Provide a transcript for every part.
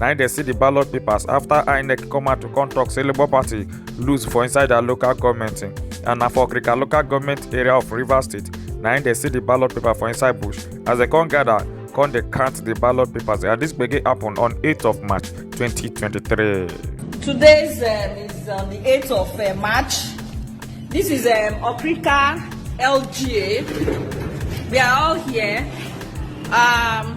na im dey see di ballot papers afta inec come out to come tok say labour party lose for inside dia local goment and na for okrika local goment area of rivers state na im dey see di ballot paper for inside bush as dem come gada come dey count di ballot papers and dis gbege happun on 8 of march 2023. Today is, um, is on the 8th of uh, March. This is um, Okrika LGA. We are all here. Um,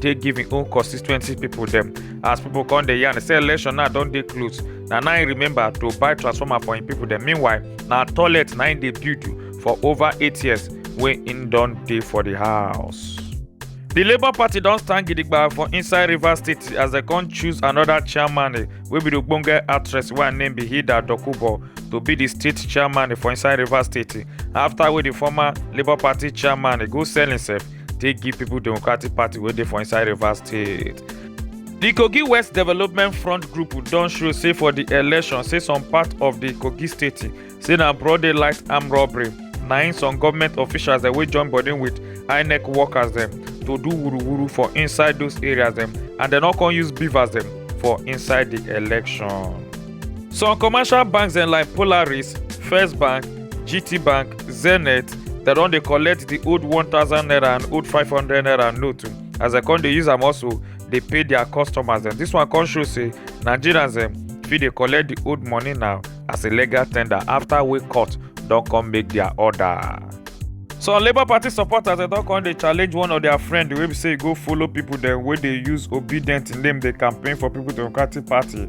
take give im own constituency pipo dem as pipo come dey yarn say election now don dey close na now im remember to buy transformer for im pipo dem meanwhile na toilet na im dey build for over eight years wey im don dey for di house. di labour party don stand gidigba for inside rivers state as dem come choose anoda chairman eh, wey be di ogbonge actress wey her name be hilda dokubo to be di state chairman eh, for inside rivers state eh, afta wey di former labour party chairman eh, go sell himself take give people democratic party wey dey for inside rivers state di kogi west development front group don show say for di election say some part of di kogi state say na broad daylight armed robbery na im some government officials dem wey join body with inec workers dem to do wuruwuru for inside those areas dem and dem no come use beavers dem for inside di election. Some commercial banks dem like Polaris, First Bank, GT Bank, Zenith, dem don dey collect the old 1000 naira and old 500 naira note o, as dem come dey use am also dey pay their customers dem. This one come show say Nigerians dem fit dey collect the old money now as a legal tender after wey court don come make their order. Some Labour Party supporters dem don come dey challenge one of their friend wey be say e go follow people dem wey dey use Obidient name dey campaign for People Democratic Party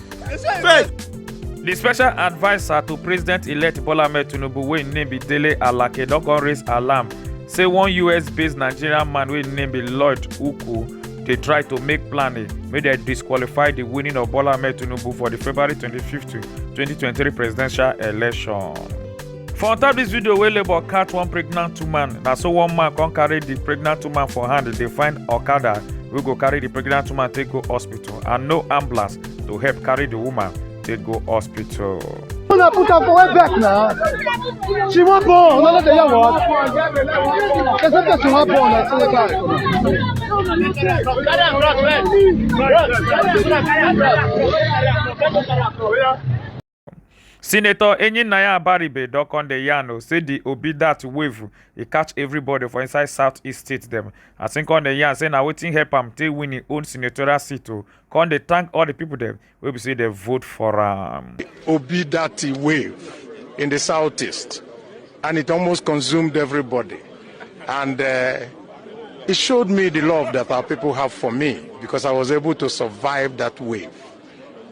First, The special adviser to President-elect Bola Ahmed Tinubu wey im name be Dele Alake don come raise alarm say one US-based Nigerian man wey im name be Lloyd Uku dey try to make plan eh, make dem disqualify the winning of Bola Ahmed Tinubu for the February 25, 2023 presidential election. For on top this video wey labour catch one pregnant woman, na so one man come carry the pregnant woman for hand dey find Okada wey go carry the pregnant woman take go hospital and no ambulance to help carry the woman take go hospital. Una put am for where back na. She wan born, una no dey hear what? They say person wan born, I say wait out. Carry am, bros, bros. Bros, carry am, bros, carry am, bros. senator enyinnaya abaribe don come dey yarn o say di obi dat wave e catch everybody for inside south east state dem as im come dey yarn say na wetin help am take win im own senatorial seat o come dey thank all di pipo dem wey be say dem vote for am. obi dat wave in di south east and it almost consumed everybody and it showed me di love dat our pipo have for me becos i was able to survive dat wave.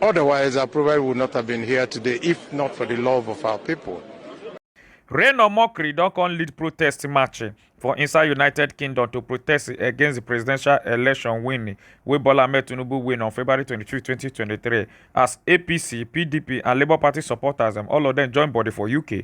Otherwise, I probably would not have been here today if not for the love of our people. Rain or mockery don come lead protest march for inside United Kingdom to protest against the presidential election win wey Bola Ahmed Tinubu win on February 23, 2023 as APC, PDP and Labour Party supporters dem all of them join body for UK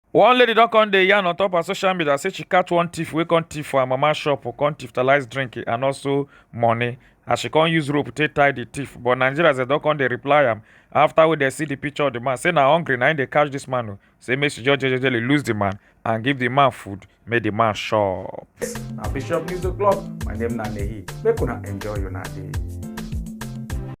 One lady don come dey yarn on top her social media say she catch one thief wey come thief for her mama shop, come thiefalize drink and also money as she come use rope take tie the thief. But Nigerians dem don come dey reply am after wey dem see the picture of the man say na hungry na im dey catch this man o, say make she just jejely lose the man and give the man food make the man chop. Na Bishop News O'clock, my name na Nehi, make una enjoy una day.